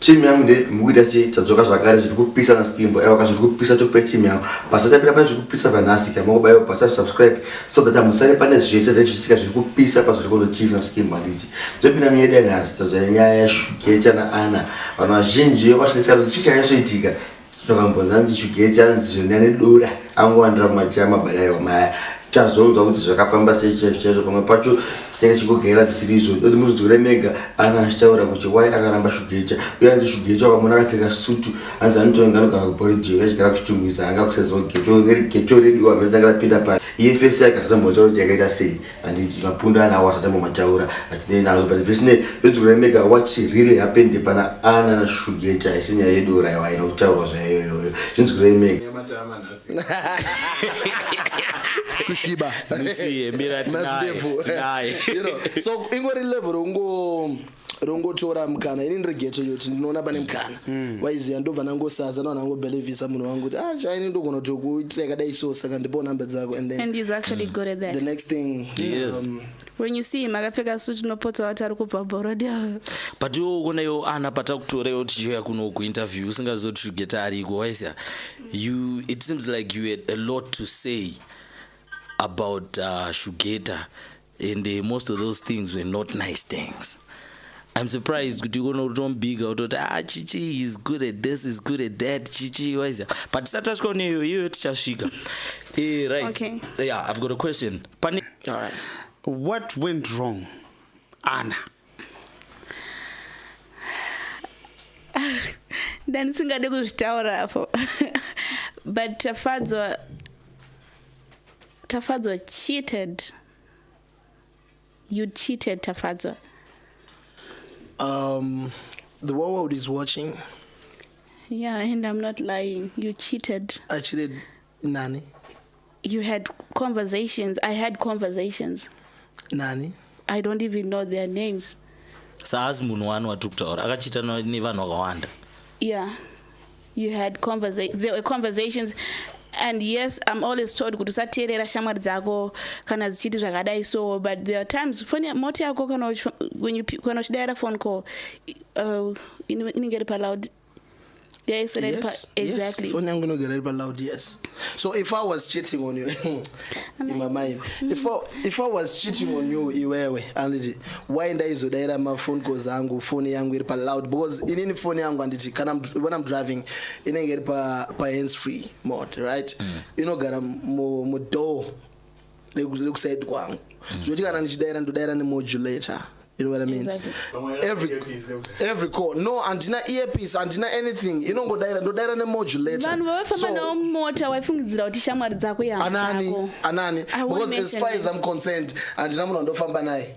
team yangu ndikuita chii tadzoka zvakare zviri kupisa na spimbo aiwa ka zviri kupisa chokupa team yangu basa tapira pane zviri kupisa vanhasi ka mokubaiwa basa subscribe so that amusare pane zvese zve zvichitika zviri kupisa pazviri kondo chief na spimbo handiti dzopinda miyedi yanhasi tazvaya nyaya yashugecha na ana vanhu vazhinji vakwashinetsika kuti chii chakaisoitika zvakambonzi anzi chugecha anzi zvonya nedora angowandira kumachaya mabadaiwa maya tazonzwa kuti zvakafamba sei chaizvo chaizvo pamwe pacho tinenge tichigogera zvisiri izvo doti muzvidzore mega ana achitaura kuti wai akaramba shugecha uye anzi shugecha wakamona akapfeka sutu anzi anotonga anogara kuboridge achigara kuchitumwisa anga kusezwa geto neri geto redu wamene tanga rapinda pa iye fese akasatombotaura kuti yakaita sei handiti mapundu ana awo asati amomataura atinei nazo but zvisinei vedziurai mega what really happened pana ana na shugeti haisi nyaya yedora yawo haina kutaurwa zvayoyoyo zvinzwirai mega kusviba Musiye, mira tinaye, Nazidevu. tinaye. You know, so ingori level ungo rongotora mukana ini ndiri geto iyo kuti ndinoona pane mukana mm. waiziva ndobva nangosaza ndobva nangobelivhisa munhu wangu kuti ah chaini ndogona kuti kuitira yakadai so saka ndipowo number dzako and then and he's actually mm. good at that the next thing yes. um, when you see him akapfeka suit unopotsa wati ari kubva borodi but iwo ukonaiwo ana patakutorewo tichiuya kuno kuinterview usingaziva kuti geta ariko waisa you it seems like you had a lot to say about uh, shugeta and uh, most of those things were not nice things I'm surprised kuti ukono utombika utoti ah chichi is good at this is good at that chichi wise but satasvika kune iyo iyo tichasvika eh right okay. yeah I've got a question Pani All right. what went wrong Anna ndandisingade kuzvitaura apo but tafadzwa tafadzwa cheated you cheated tafadzwa um the world is watching yeah and i'm not lying you cheated i cheated nani you had conversations i had conversations nani i don't even know their names saazi munhu wani watiri kutaura akachiita nevanhu vakawanda yeah you had conversa there were conversations and yes i'm always told kuti usateerera shamwari dzako kana dzichiti zvakadai so but there are times foni moti yako kana uchidaira phone call uh, inenge iri paloud Yes, yes, exactly. Yes. Phone yangu inogara iri paloud yes. So if I was cheating on you in my mind, if I, if I was cheating on you iwewe anditi why ndaizodaira maphone calls angu phone yangu iri paloud because inini phone yangu anditi kana when I'm driving inenge iri pa pa hands free mode right mm. inogara mu, mu door nekusaidi kwangu mm. zvoti kana ndichidaira ndodaira nemodulator you know what i mean exactly. every every call no andina earpiece andina anything inongodaira ndodaira nemodulator vanhu vavafamba nawo mota waifungidzira kuti shamwari dzako yaanani anani because as far as i'm concerned andina munhu andofamba naye